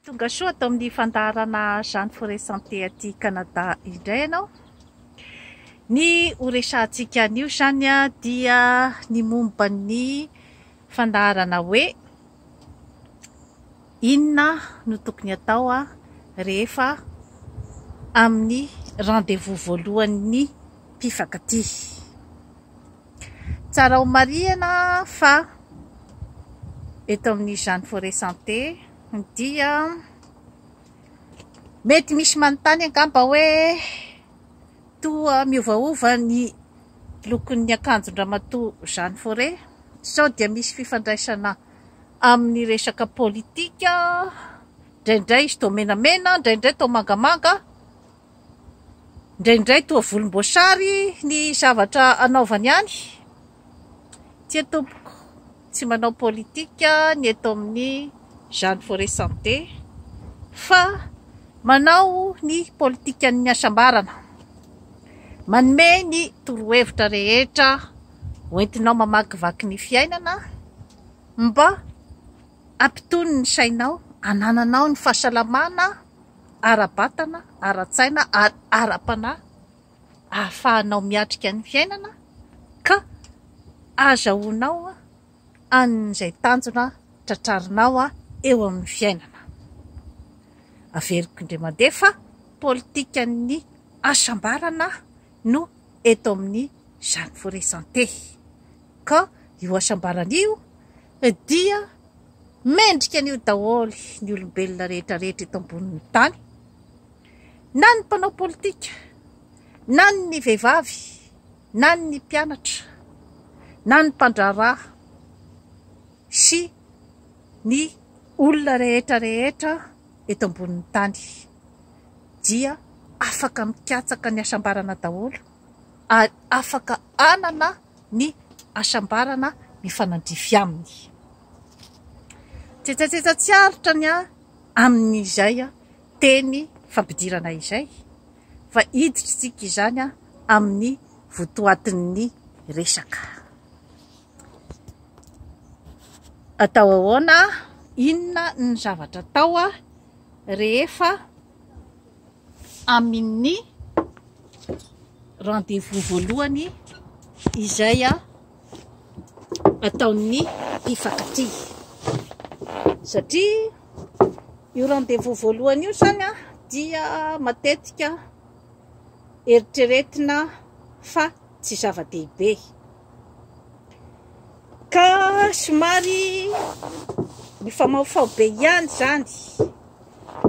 Tonga soa ato amin'ny fandaharana Jeanne Forest Santé aty Canada indray ianao. Ny ho resahantsika anio Jeanne dia ny momba ny fandaharana hoe inona no tokony atao rehefa amin'ny rendez-vous voalohan'ny mpifankatia. Tsara ho marihana fa eto amin'ny Jeanne Forest Santé. dia mety misy manontany angamba hoe toa miovaova ny lokon'ny akanjon-dRamatoa Jean Faure sao dia misy fifandraisana amin'ny resaka politika, indraindray izy toa menamena, indraindray toa mangamanga. Indraindray toa volomboasary ny zavatra anaovany any. Tsia tompoko, tsy manao politika ny eto amin'ny Jeanne Forêt Santé fa manao ny politikan'ny hasambarana. Manome ny torohevitra rehetra hoentinao mamakivaky ny fiainana mba Hampitony ny sainao, hanananao ny fahasalamana ara-batana, ara-tsaina ary ara-panahy ahafahanao miatrika ny fiainana ka ahazahoanao an'izay tanjona tratrarinao eo amin'ny fiainana. Averiko indray mandeha fa politikan'ny hasambarana no eto amin'ny Jeanne Forest Santé. Ka io hasambarana io dia mendrika an'io daholo ny olombelona rehetra rehetra eto ambonin'ny tany, na ny mpanao politika, na ny vehivavy, na ny mpianatra, na ny mpandraharaha sy ny olona rehetra rehetra eto ambonin'ny tany dia afaka mikatsaka ny hasambarana daholo ary afaka hanana ny hasambarana mifanandrify aminy. Tsetsatsetsa tsy aritra ny ahy amin'izay teny fampidirana izay fa iditr'tsika izany amin'ny votoatin'ny resaka. Atao ahoana? Inona ny zavatra atao rehefa. amin'ny rendez-vous voalohany izay ataon'ny mpifankatia. Satria io rendez-vous voalohany io izany dia matetika eritreretina fa tsy zava-dehibe. Ka somary mifamahofaho be ihany izany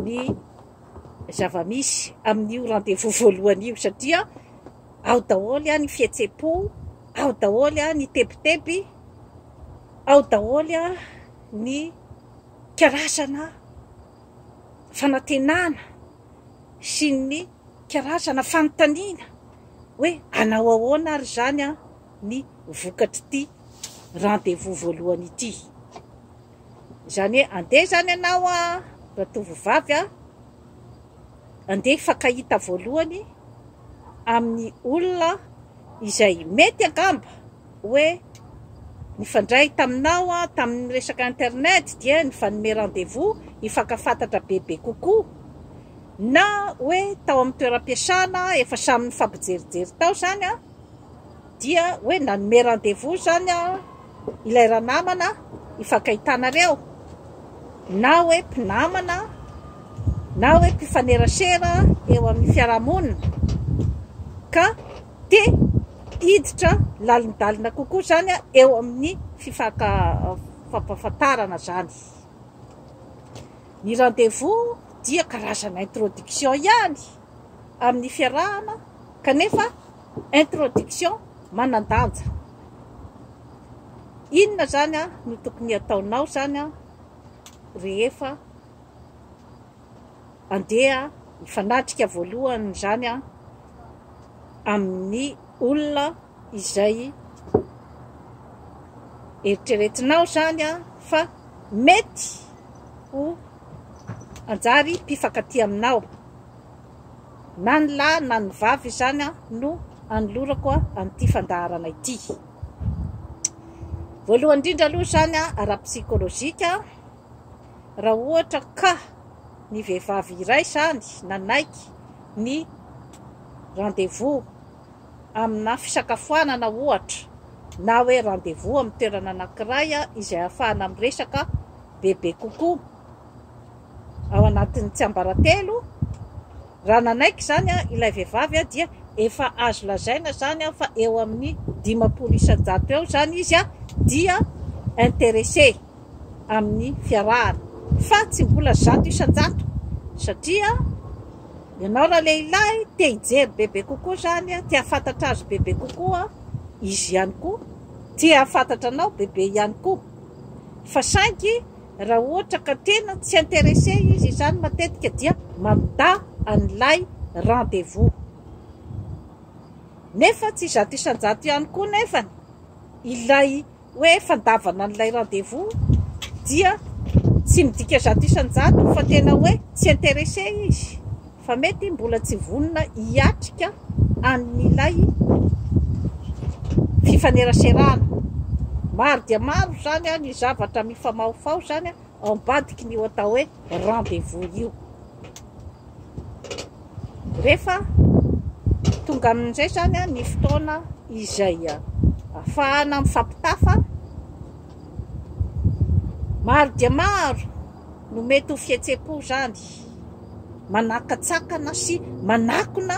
ny zava-misy amin'io rendez-vous voalohany io satria ao daholo ny fihetsem-po, ao daholo ny tebiteby, ao daholo ny karazana fanantenana sy ny karazana fanontaniana hoe hanao ahoana ary izany ny vokatr'ity rendez-vous voalohany ity. Izany hoe andeha izany ianao an, ratovovavy an, andeha hifankahita voalohany amin'ny olona izay mety angamba hoe nifandray taminao tamin'ny resaka internet dia nifanome rendez-vous hifankafantatra bebe kokoa, na hoe tao amin'ny toeram-piasana efa samy nifampijerijery tao izany an. Dia hoe nanome rendez-vous izany ilay ranamana hifankahitanareo, na hoe mpinamana, na hoe mpifanerasera eo amin'ny fiarahamonina, ka te hiditra lalindalina kokoa izany eo amin'ny fifampahafantarana izany. Ny rendez-vous dia karazana introduction ihany amin'ny fiarahana, kanefa. Introduction, Manan-danja. Inona izany no tokony hataonao izany rehefa handeha hifanatrika voalohany izany amin'ny olona izay eritreretinao izany fa mety ho hanjary mpifankatia aminao. na ny lahy na ny vavy izany no anolorako an'ity fandaharana ity. Voalohany indrindra aloha izany ara-psychologique, raha ohatra ka ny vehivavy iray izany nanaiky ny rendez-vous amina fisakafoanana ohatra, na hoe rendez-vous amin'ny toerana anankiray izay ahafahana miresaka bebe kokoa, ao anatin'ny tsiambaratelo, raha nanaiky izany ilay vehivavy dia efa azo lazaina izany fa eo amin'ny dimampolo isan-jato eo izany izy dia interessé amin'ny fiarahana fa tsy mbola zato isan-jato satria ianao raha lehilahy te hijery bebe kokoa izany, te hahafantatra azy bebe kokoa, izy ihany koa te hahafantatra anao bebe ihany koa fa saingy Raha ohatra ka tena tsy interesse izy izany matetika dia mamita an'ilay rendez-vous. Nefa tsy zato isan-jato ihany koa nefany ilay hoe fandavana an'ilay rendez-vous dia tsy midika zato isan-jato fa tena hoe tsy interesse izy. fa mety mbola tsy vonona hiatrika an'ilay fifaneraserana. Maro dia maro izany ny zavatra mifamahofaho izany ao ambadikin'io atao hoe rendez-vous io. Rehefa tonga amin'izay izany ny fotoana izay afahana mifampitafa, maro dia maro no mety ho fihetsem-po izany, manakatsakana sy manakona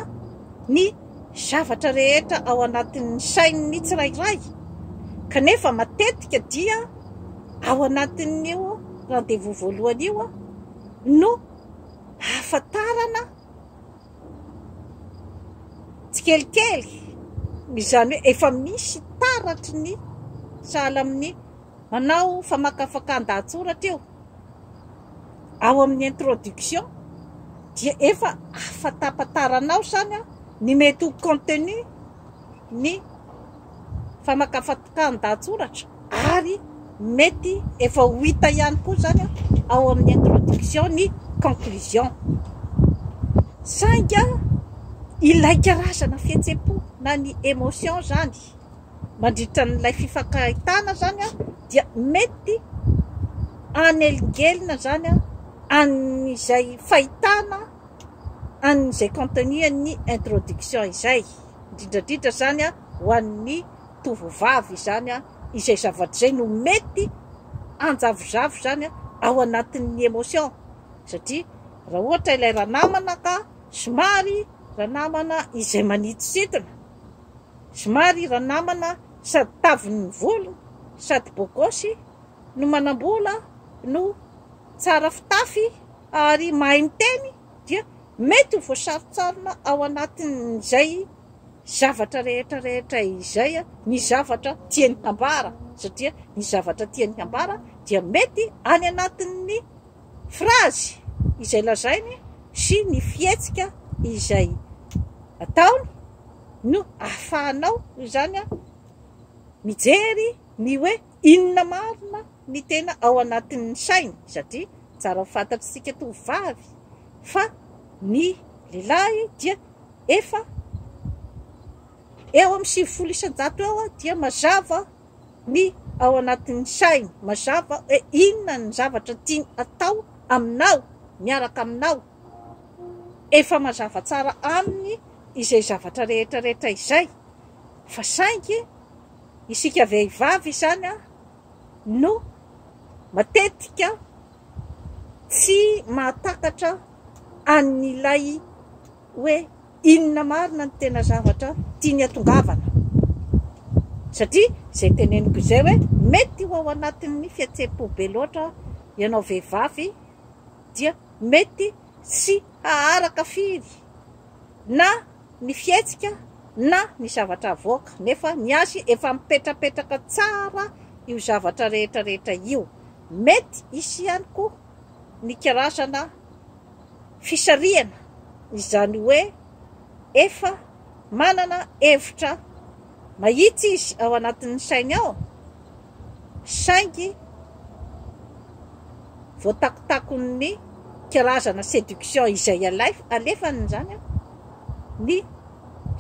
ny zavatra rehetra ao anatin'ny sain'ny tsirairay, kanefa matetika dia ao anatin'io rendez-vous voalohany io no ahafantarana tsikelikely, izany hoe efa misy taratry ny sahala amin'ny Manao famakafakan-dahatsoratra io ao amin'ny introduction dia efa afantapantaranao izany ny mety ho contenu ny famakafakan-dahatsoratra ary mety efa ho hita ihany koa izany ao amin'ny introduction ny conclusion. Saingy ilay karazana fihetsem-po na ny emotion izany. mandritra an'ilay fifankahitana izany dia mety hanelingelina izany an'izay fahitana an'izay contenu an'ny introduction izay, indrindra indrindra izany ho an'ny tovovavy izany, izay zavatra izay no mety hanjavozavo izany ao anatin'ny emotion satria raha ohatra ilay ranamana ka somary ranamana izay manitsintsina. Somary ranamana sady tavin'ny volo sady beau gosse no manambola no tsara fitafy ary mahay miteny dia mety ho voasarintsarina ao anatin'izay zavatra rehetra rehetra izay ny zavatra tiany hambara satria ny zavatra tiany hambara dia mety any anatin'ny frazy izay lazainy sy ny fihetsika izay ataony no ahafahanao izany mijery ny hoe inona marina ny tena ao anatin'ny sainy satria tsara fantatsika tovovavy fa ny lehilahy dia efa eo amin'ny sivifolo isan-jato eo dia mazava ny ao anatin'ny sainy mazava hoe inona ny zavatra tiany hatao aminao, miaraka aminao, efa mazava tsara aminy izay zavatra rehetra rehetra izay, fa saingy isika vehivavy izany no matetika tsy mahatakatra an'ilay. hoe inona marina ny tena zavatra tiany hatongavana. Satria izay teneniko izay hoe mety ho ao anatin'ny fihetsem-po be loatra ianao vehivavy dia mety tsy haharaka firy na ny fihetsika na ny zavatra havoaka nefa ny azy efa mipetrapetraka tsara io zavatra rehetra rehetra io. Mety hisy ihany koa ny karazana fisarihana izany hoe efa manana hevitra mahitsy izy ao anatin'ny sainy ao saingy voatakotakon'ny karazana seduction izay alefany izany an, ny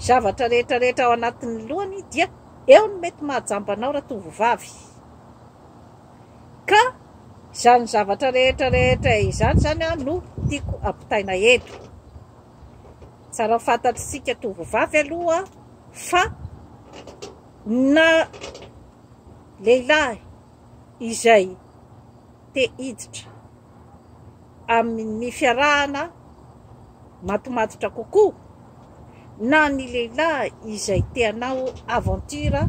zavatra rehetrarehetra ao anatin'ny lohany dia eo ny mety mahajamba anao ratovovavy. Ka izany zavatra rehetra rehetra izany izany an no tiako ampitaina eto. Tsara fantatr'isika tovovavy aloha fa na lehilahy izay te hiditra. amin'ny fiarahana matomatotra kokoa na ny lehilahy izay te hanao aventure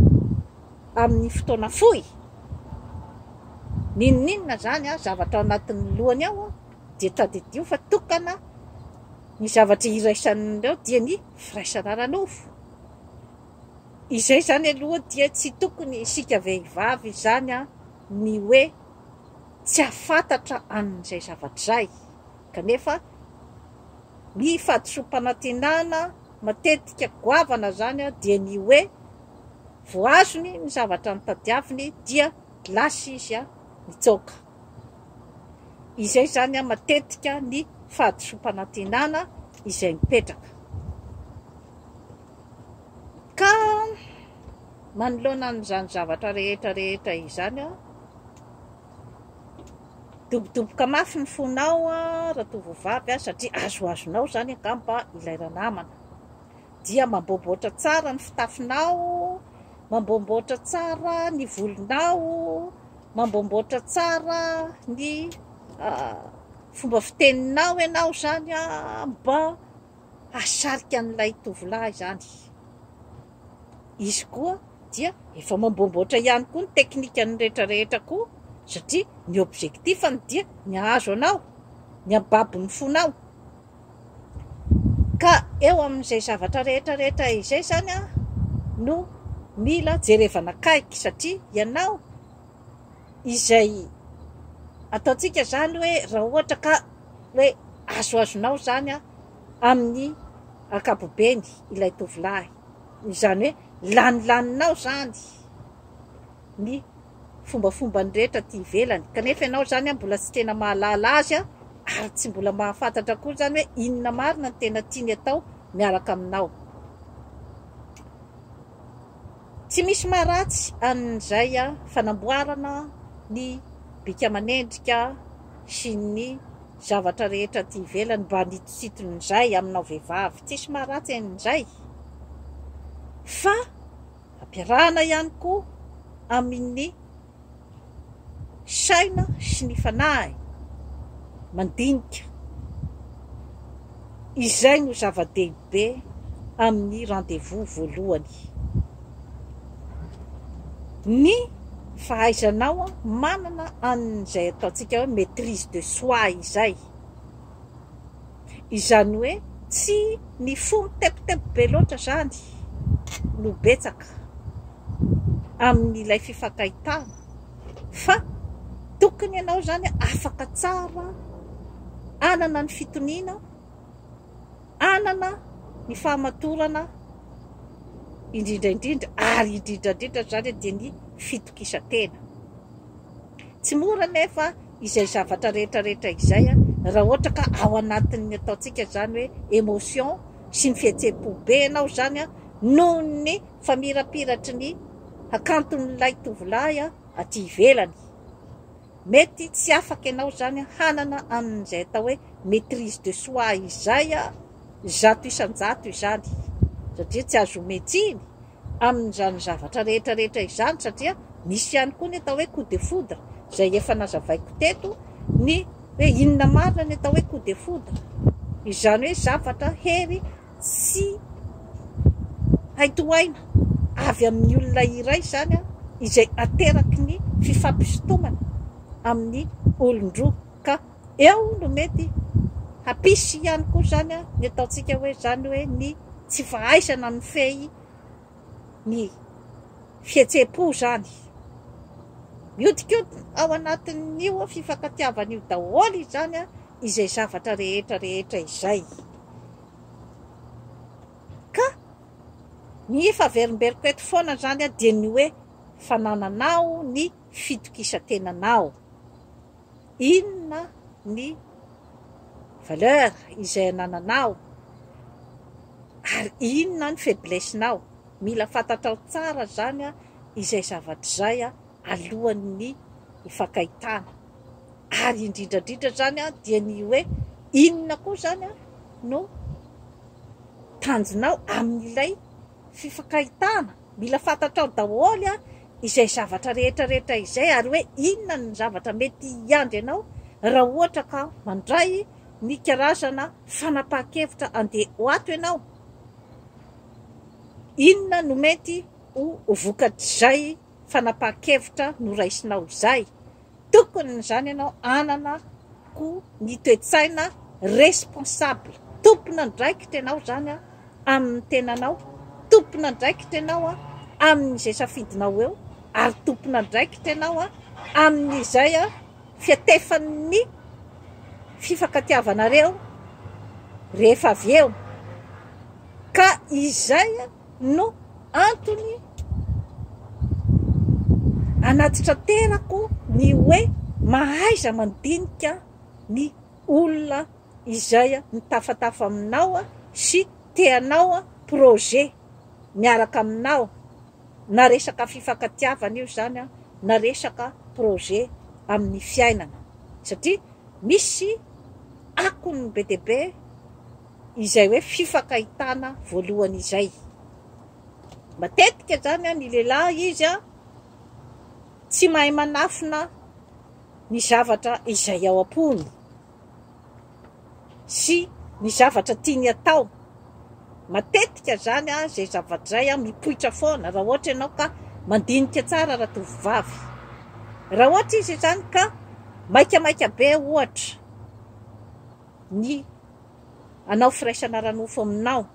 amin'ny fotoana fohy, n'inon'inona izany an, zavatra ao anatin'ny lohany ao an, dia tadidio fa tokana ny zavatra iraisany ao dia ny firaisana ara-nofo. Izay izany aloha dia tsy tokony isika vehivavy izany an ny hoe. Tsy hahafantatra an'izay zavatra izay, kanefa ny fahadisoam-panantenana matetika goavana izany dia ny hoe vao azony ny zavatra notadiaviny dia lasa izy nitsoaka. Izay izany matetika ny fahadisoam-panantenana izay mipetraka. Ka manoloana an'izany zavatra rehetra rehetra izany Midobodoboka mafy ny fonao ratovovavy a, satria azoazonao izany angamba ilay ranamana. Dia mamboamboatra tsara ny fitafinao, mamboamboatra tsara ny volonao, mamboamboatra tsara ny fomba fiteninao ianao izany mba hahasarika an'ilay tovolahy izany. Izy koa dia efa mamboamboatra ihany koa ny teknikany rehetra rehetra koa satria ny objectif-ny dia ny hahazo anao, ny hampibabo ny fonao. Ka eo amin'izay zavatra rehetra rehetra izay izany no mila jerevana akaiky satria ianao izay ataontsika izany hoe raha ohatra ka hoe azoazonao izany. amin'ny ankapobeny ilay tovolahy, izany hoe lanilanianao izany ny fombafombany rehetra aty ivelany, kanefa ianao izany mbola tsy tena mahalala azy ary tsy mbola mahafantatra akory izany hoe inona marina no tena tiany atao miaraka aminao. Tsy misy maharatsy an'izay fanamboarana ny bika aman'endrika sy ny zavatra rehetra aty ivelany mba anitositon'izay aminao vehivavy, tsisy maharatsy an'izay fa ampiarahana ihany koa amin'ny. saina sy ny fanahy mandinika, izay no zava-dehibe amin'ny rendez-vous voalohany. Ny fahaizanao manana an'izay ataontsika hoe maitrise de soi izay. Izany hoe tsy ny fo mitebiteby be loatra izany no betsaka amin'ilay fifankahitana fa tokony ianao izany afaka tsara hanana ny fitoniana, hanana ny fahamatorana indrindra indrindra ary indrindra indrindra izany dia ny fitokisantena. Tsy mora anefa. izay zavatra rehetra rehetra izay a, raha ohatra ka ao anatin'ny ataontsika izany hoe emotion sy ny fihetsem-po be anao izany a, noho ny famirapiratry ny hakanton'ilay tovolahy a aty ivelany, mety tsy afaka ianao izany hanana an'izay atao hoe maitrise de soi izay a, zato isan-jato izany, satria tsy azo omey tsiny. amin'izany zavatra rehetra rehetra izany satria misy ihany koa ny atao hoe coup de foudre izay efa nazavaiko teto ny hoe inona marina ny atao hoe coup de foudre izany hoe zavatra hery tsy hay tohaina avy amin'ny olona iray izany an izay ateraky ny fifampisintomana amin'ny olon-droa ka Eo no mety hampisy ihany koa izany ny ataontsika hoe izany hoe ny tsy fahaizana mifehy ny fihetsem-po izany. Mihodinkodina ao anatin'io fifankatiavana io daholo izany izay zavatra rehetra rehetra izay. Ka ny efa averimberiko eto foana izany dia ny hoe fanananao ny fitokisan-tenanao. Inona ny valeur izay anananao ary inona ny faiblesse nao. Mila fantatrao tsara izany izay zavatra izay alohan'ny hifankahitana ary indrindra indrindra izany dia ny hoe inona koa izany no tanjonao amin'ilay fifankahitana. Mila fantatrao daholo izay zavatra rehetra rehetra izay ary hoe inona ny zavatra mety hiandry anao raha ohatra ka mandray ny karazana fanapahan-kevitra handeha ho ato ianao. Inona no mety ho vokatr'izay fanapahan-kevitra noraisinao izay. tokony izany ianao hanana ko ny toe-tsaina responsable, tompon'andraikitra ianao izany amin'ny tenanao, tompon'andraikitra ianao amin'izay safidinao eo ary tompon'andraikitra ianao amin'izay fiatefan'ny fifankatiavanareo rehefa avy eo ka izay no antony anatitraterako ny hoe mahaiza mandinika ny olona izay mitafatafa aminao sy te hanao projet miaraka aminao na resaka fifankatiavana io zany na resaka projet amin'ny fiainana satria misy akony be dia be izay hoe fifankahitana voalohany izay. Matetika zany ny lehilahy izy tsy mahay manafina ny zavatra izay ao am-pony sy ny zavatra tiany hatao. Matetika zany izay zavatra izay mipoitra foana raha ohatra ianao ka mandinika tsara ratovovavy. Raha ohatra izy zany ka maikamaika be ohatra. ny hanao firaisana ara-nofo aminao.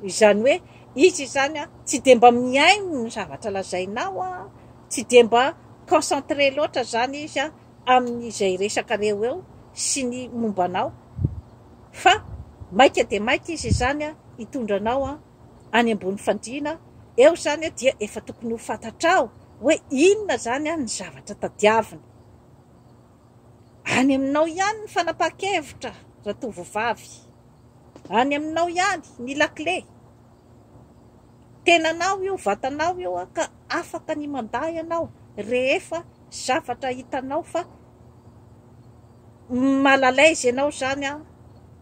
Izany hoe izy izany tsy dia mba mihaino ny zavatra lazainao, tsy dia mba concentré loatra izany izy amin'izay resakareo eo sy ny momba anao fa maika dia maika izy izany hitondra anao any ambony fandriana, eo izany dia efa tokony ho fantatrao hoe inona izany ny zavatra tadiaviny. Any aminao ihany ny fanapahan-kevitra ratovovavy. Any aminao ihany ny lakile. Tenanao io, vatanao io ka afaka ny mandà ianao rehefa zavatra hitanao fa mal à l'aise ianao izany,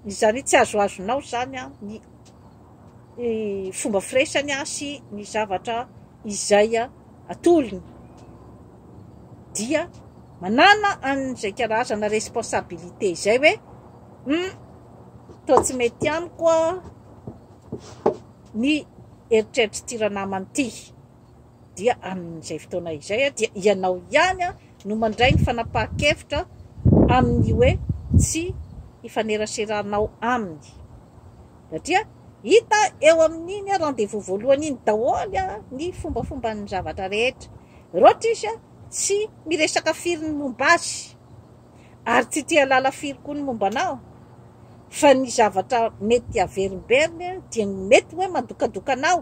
izany hoe tsy azoazonao izany ny fomba firesany sy ny zavatra izay atolony. dia manana an'izay karazana responsabilité izay hoe hum toa tsy mety amiko ny eritreritr'ity ranamana ity dia amin'izay fotoana izay dia ianao ihany no mandray ny fanapahan-kevitra amin'ny hoe tsy hifaneraseranao aminy satria hita eo amin'iny rendez-vous voalohany iny daholo ny fombafomban'ny zavatra rehetra Rotish tsy miresaka firy ny momba azy ary tsy te halala firy koa ny momba anao fa ny zavatra mety averimberiny dia ny mety hoe mandokadoka anao,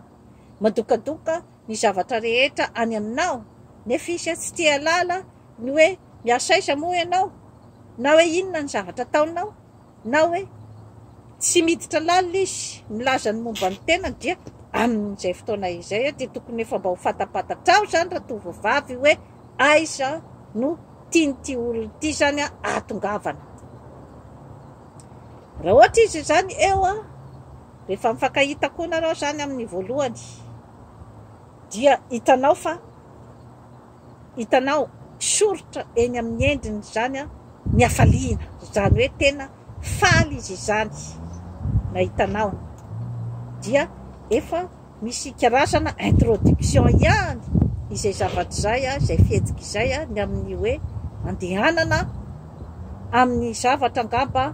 mandokadoka ny zavatra rehetra any aminao nefa izy tsy te halala ny hoe miasa aiza moa ianao na hoe inona ny zavatra ataonao. Na hoe tsy miditra lalina izy milaza ny momba ny tenany dia amin'izay fotoana izay dia tokony efa mba ho fantapantatrao izany ratovovavy hoe aiza no tian'ity olona ity izany ahatongavana. Raha ohatra izy izany eo rehefa mifankahita koa narao izany amin'ny voalohany dia hitanao fa Hitanao, soritra eny amin'ny endriny izany ny hafaliana, izany hoe tena faly izy izany nahita anao. Dia efa misy karazana introduction ihany izay zavatra izay, izay fihetsika izay ny amin'ny hoe andehanana amin'ny zavatra angamba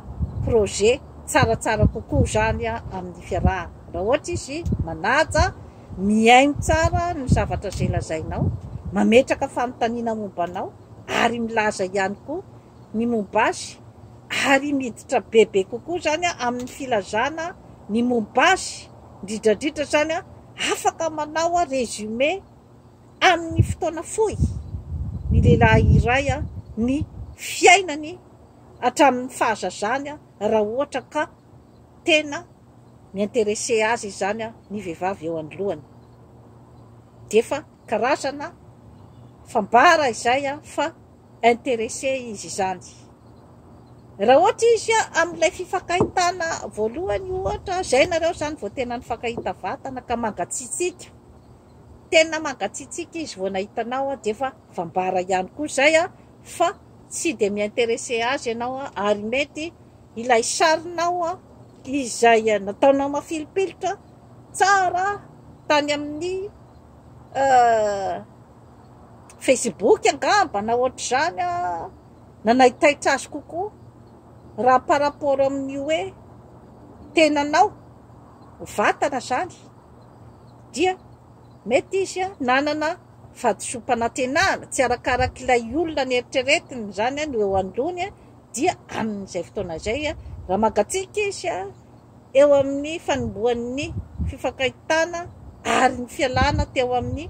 projet tsaratsara kokoa izany amin'ny fiarahana. Raha ohatra izy manaja. Mihaino tsara ny zavatra izay lazainao, mametraka fanontaniana momba anao ary milaza ihany koa ny momba azy ary miditra bebe kokoa izany amin'ny filazana ny momba azy, indrindra indrindra izany afaka manao résumé amin'ny fotoana fohy ny lehilahy iray ny fiainany hatramin'ny fahazazany raha ohatra ka tena mi interesse azy izany an ny vehivavy eo anoloany de efa karazana fambara izay an fa interesse izy izany raha ohatra izy an amin'ilay fifakahitana voalohany ohatra zay nareo zany vao tena nifankahita vatana ka mangatsitsiaka tena mangatsitsiaka izy vao nahita anao an de efa fambara ihany koa zay an fa tsy de mi interesse azy ianao an ary mety Ilay sarinao izay nataonao mafilipilitra tsara tany amin'ny Facebook angamba na ohatr'izany nanaitaitra azy kokoa raha par rapport amin'ny hoe tenanao, vatana izany dia mety izy nanana vatosoam-panantenana tsy arakarak'ilay olona neritreretiny izany no eo anoloany dia amin'izay fotoana izay raha mangatsiaka izy eo amin'ny fanombohan'ny fifankahitana ary ny fialana teo amin'ny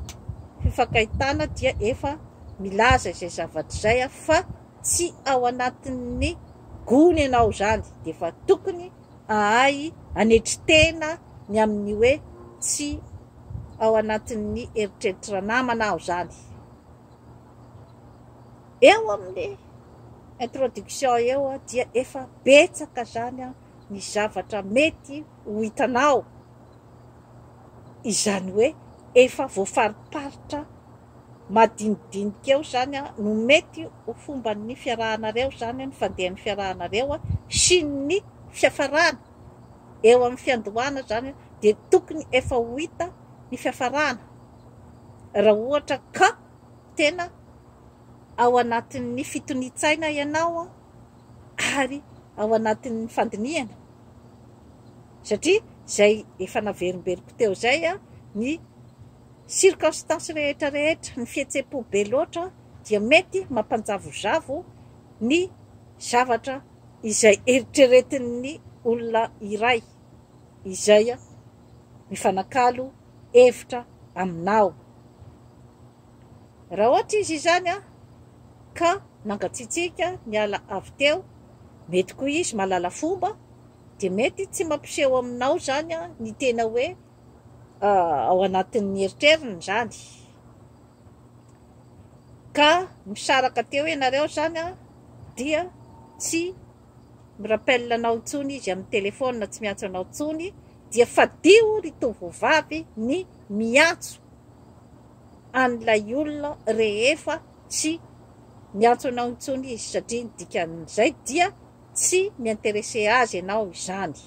fifankahitana dia efa milaza izay zavatra izay fa tsy ao anatin'ny gony ianao izany dia efa tokony ahay anetry tena ny amin'ny hoe tsy ao anatin'ny eritreritry ranamana aho izany. eo amin'ny introduction eo dia efa betsaka zany ny zavatra mety ho hitanao, izany hoe efa voafariparitra madinidinika eo zany no mety ho fomban'ny fiarahanareo zany ny fandehan'ny fiarahanareo sy ny fiafarana, eo amin'ny fiandohana zany dia tokony efa ho hita ny fiafarana raha ohatra ka. tena ao anatin'ny fitonian-tsaina ianao ary ao anatin'ny fandinihana, satria izay efa naverimberiko teo izay, ny circonstances rehetra rehetra, ny fihetsem-po be loatra dia mety mampanjavozavo ny zavatra izay eritreretin'ny olona iray izay mifanakalo. hevitra aminao. Raha ohatra izy izany ka nangatsiatsiaka niala avy teo, mety koa izy mahalala fomba, dia mety tsy mampiseho aminao izany ny tena hoe ao anatin'ny eritreriny izany. ka misaraka teo ianareo zany an, dia tsy mi rappelle anao intsony izy amin'ny téléphone tsy miantso anao intsony dia fadio ry tovovavy ny miantso an'ilay olona rehefa tsy miantso anao intsony izy satria ny dikan'izay dia tsy mi interesse azy ianao izany.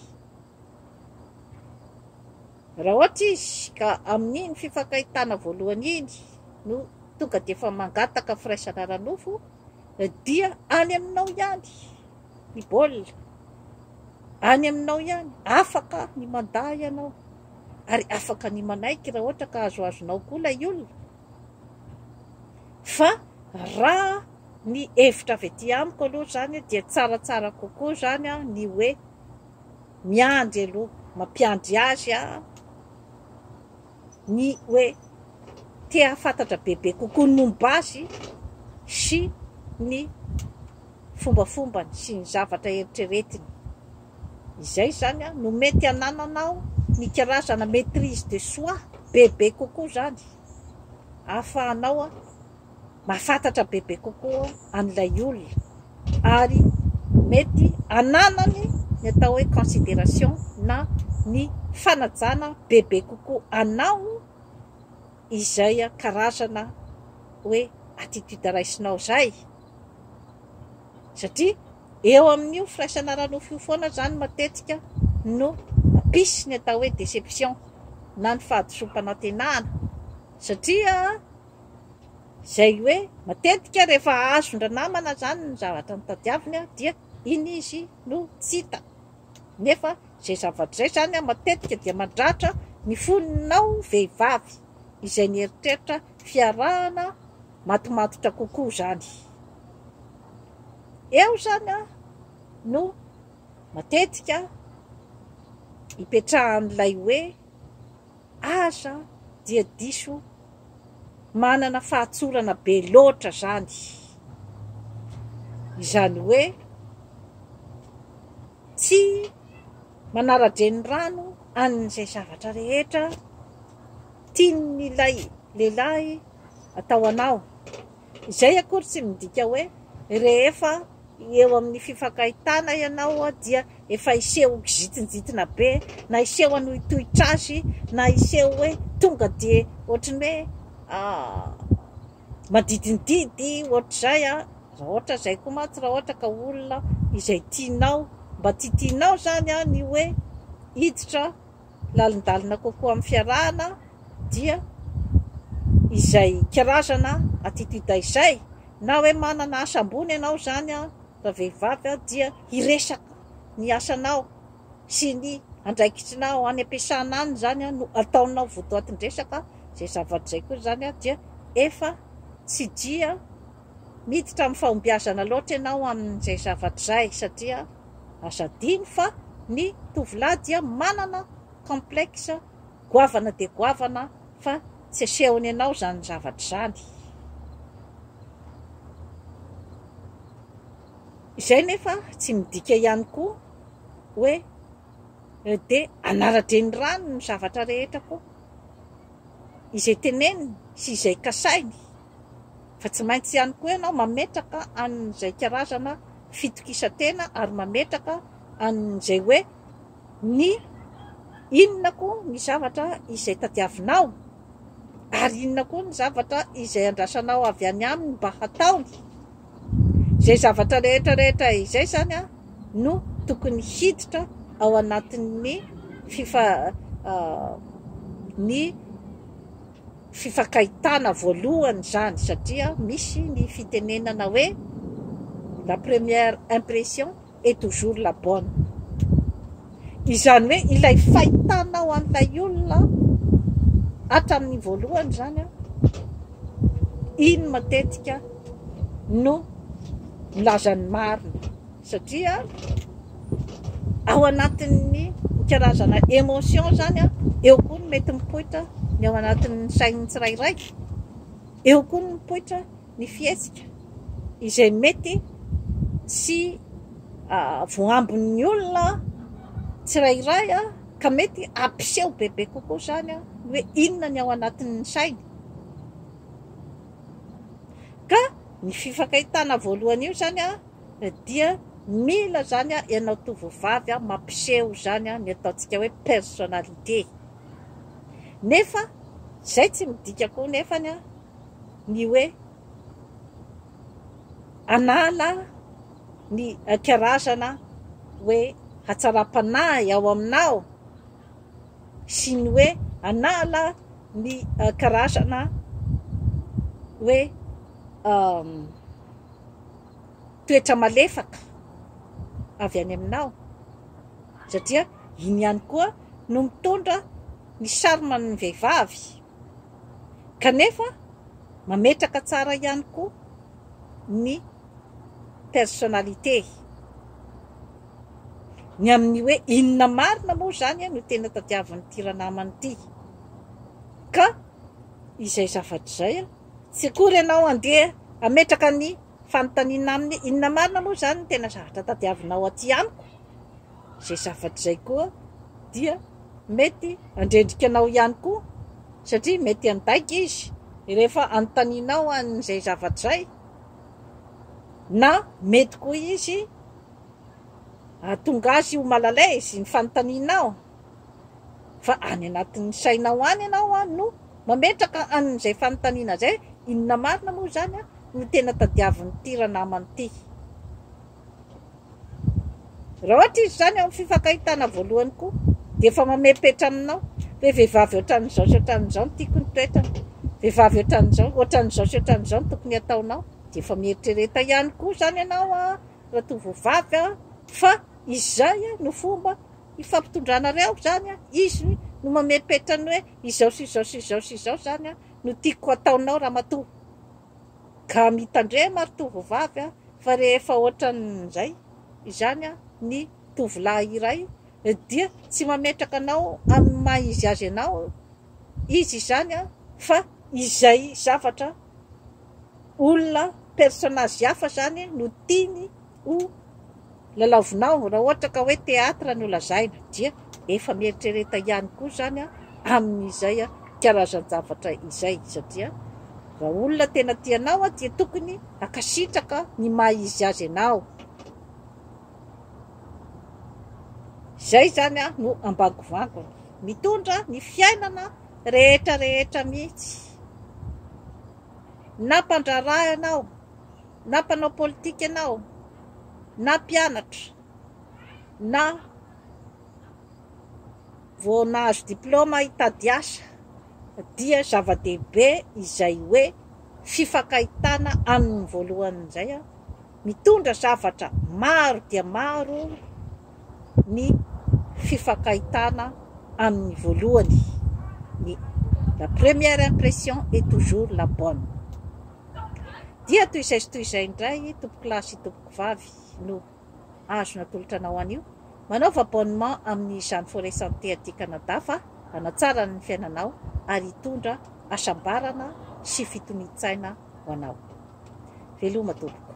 Raha ohatra izy ka amin'iny fifankahitana voalohany iny no tonga dia efa mangataka firaisana ara-nofo dia any aminao ihany ny baolina, any aminao ihany, afaka ny mandà ianao ary afaka ny manaiky raha ohatra ka azoazonao koa ilay olona fa raha ny hevitra avy aty amiko aloha izany dia tsaratsara kokoa izany ny hoe. Miandry aloha, mampiandry azy aho ny hoe te hahafantatra bebe kokoa ny momba azy sy ny fombafombany sy ny zavatra eritreretiny. Izay izany no mety hanananao ny karazana maitrise de soi bebe kokoa izany ahafahanao. mahafantatra bebe kokoa an'ilay olona ary mety hananany ny atao hoe consideration na ny fanajana bebe kokoa anao izay karazana hoe attitude raisinao izay satria eo amin'io firaisana ara-nofo io foana izany matetika no mampisy ny atao hoe déception na ny fahadisoam-panantenana satria Izay hoe matetika rehefa azon-dranamana izany ny zavatra notadiaviny dia iny izy no tsy hita. Nefa izay zavatra izay izany matetika dia mandratra ny fonao vehivavy izay nieritreritra fiarahana matomatotra kokoa izany. Eo izany no matetika ipetrahan'ilay hoe. Aza dia diso manana fahatsorana be loatra zany, izany hoe tsy manara-drenirano an'izay zavatra rehetra tian'ilay lehilahy atao anao. Izay akory tsy midika hoe rehefa eo amin'ny fifankahitana ianao dia efa hiseho ho kizintinjitina be, na hiseho hanohitohitra azy, na hiseho hoe tonga dia ohatry ny hoe madidindidy ohatr'izay an! Raha ohatra izay koa mantsy raha ohatra ka olona izay tianao, mba tsy tianao izany an ny hoe hiditra lalindalina kokoa amin'ny fiarahana dia izay karazana attitude izay, na hoe manana asa ambony ianao izany ravehivavy dia hiresaka ny asanao sy ny andraikitrinao any am-piasana any izany no ataonao votoatin-dresaka, izay zavatra izay koa izany dia efa tsy dia Miditra amin'ny fahombiazana loatra ianao amin'izay zavatra izay satria aza adino fa ny tovolahy dia manana complexe goavana dia goavana fa tsy asehony anao izany zavatra izany. Izay nefa tsy midika ihany koa hoe dia anara-drenirano ny zavatra rehetra koa. Izay teneniny sy izay kasainy. fa tsy maintsy ihany koa ianao mametraka an'izay karazana fitokisan-tena ary mametraka an'izay hoe ny inona koa ny zavatra izay tadiavinao ary inona koa ny zavatra izay andrasanao avy any aminy mba hataony. Izay zavatra rehetra rehetra izay izany no tokony hiditra ao anatin'ny fifa, ny. Fifankahitana voalohany izany satria misy ny fitenenana hoe la première impression est toujours la bonne. Izany hoe ilay fahitanao an'ilay olona hatramin'ny voalohany izany, iny matetika no milaza ny marina. Satria ao anatin'ny karazana emotion zany, eo koa ny mety mipoitra ny ao anatin'ny sain'ny tsirairay, eo koa ny mipoitra ny fihetsika izay mety tsy voaambin'ny olona tsirairay ka mety hampiseho bebe kokoa zany ny hoe inona ny ao anatin'ny sainy. Ka ny fifankahitana voalohany io zany. dia mila zany a ianao tovovavy a mampiseho zany a ny ataontsika hoe personnalité nefa zay tsy midika koa nefany a ny hoe anala ny karazana hoe hatsaram-panahy ao aminao sy ny hoe anala ny karazana hoe toetra malefaka avy any aminao satria iny ihany koa no mitondra ny charme ny vehivavy kanefa mametraka tsara ihany koa ny personnalité ny amin'ny hoe inona marina moa izany no tena tadiavin'ity ranamana ity ka izay zavatra izay Tsy akory ianao andeha hametraka ny fanontaniana aminy, inona marina moa izany no tena zavatra tadiavinao aty amiko? Izay zavatra izay koa dia mety handrendrika anao ihany koa, satria mety handainga izy rehefa anontanianao an'izay zavatra izay, na mety koa izy hahatonga azy ho malalasy ny fanontanianao. Fa any anatin'ny sainao any ianao no mametraka an'izay fanontaniana izay, inona marina moa izany no tena tadiavin'ity ranamana ity? Raha ohatra izy izany ao amin'ny fifankahitana voalohany koa dia efa mamepetra aminao hoe vehivavy ohatran'izao sy ohatran'izao no tiako ny toetrany, vehivavy ohatran'izao, ohatran'izao sy ohatran'izao no tokony hataonao, dia efa mieritrereta ihany koa izany ianao an, ratovovavy an, fa izay no fomba ifampitondranareo zany an, izy no mamepetra ny hoe izao sy izao sy izao sy izao zany an no tiako ataonao ramatoa ka mitandrema ry tovovavy an fa rehefa ohatran'izay izany an ny tovolahy iray dia tsy mametraka anao amin'ny maha izy azy anao izy izany an fa izay zavatra olona personnage hafa zany no tiany O! Lalaovinao, raha ohatra ka hoe théâtre no lazaina dia efa mieritrereta ihany koa izany aho amin'izay karazan-javatra izay satria raha olona tena tia anao aho dia tokony hankasitraka ny maha izy azy anao. Izay izany no ambangovangon. Mitondra ny fiainana rehetra rehetra mihitsy. Na mpandraharaha ianao, na mpanao politika ianao, na mpianatra, na vao nahazo diplaoma hitady asa, dia zava-dehibe izay hoe fifankahitana amin'ny voalohany indray an! Mitondra zavatra maro dia maro ny fifankahitana amin'ny voalohany, ny la première impression est toujours la bonne. Dia toy izay sy toy izay indray tompokolahy sy tompokovavy no azo natolotra anao anio. Manaova abonnement amin'ny Jeanne Forêt Santé aty Canada fa hanatsara ny fiainanao ary hitondra hasambarana sy fitonian-tsaina ho anao. Veloma tompoko.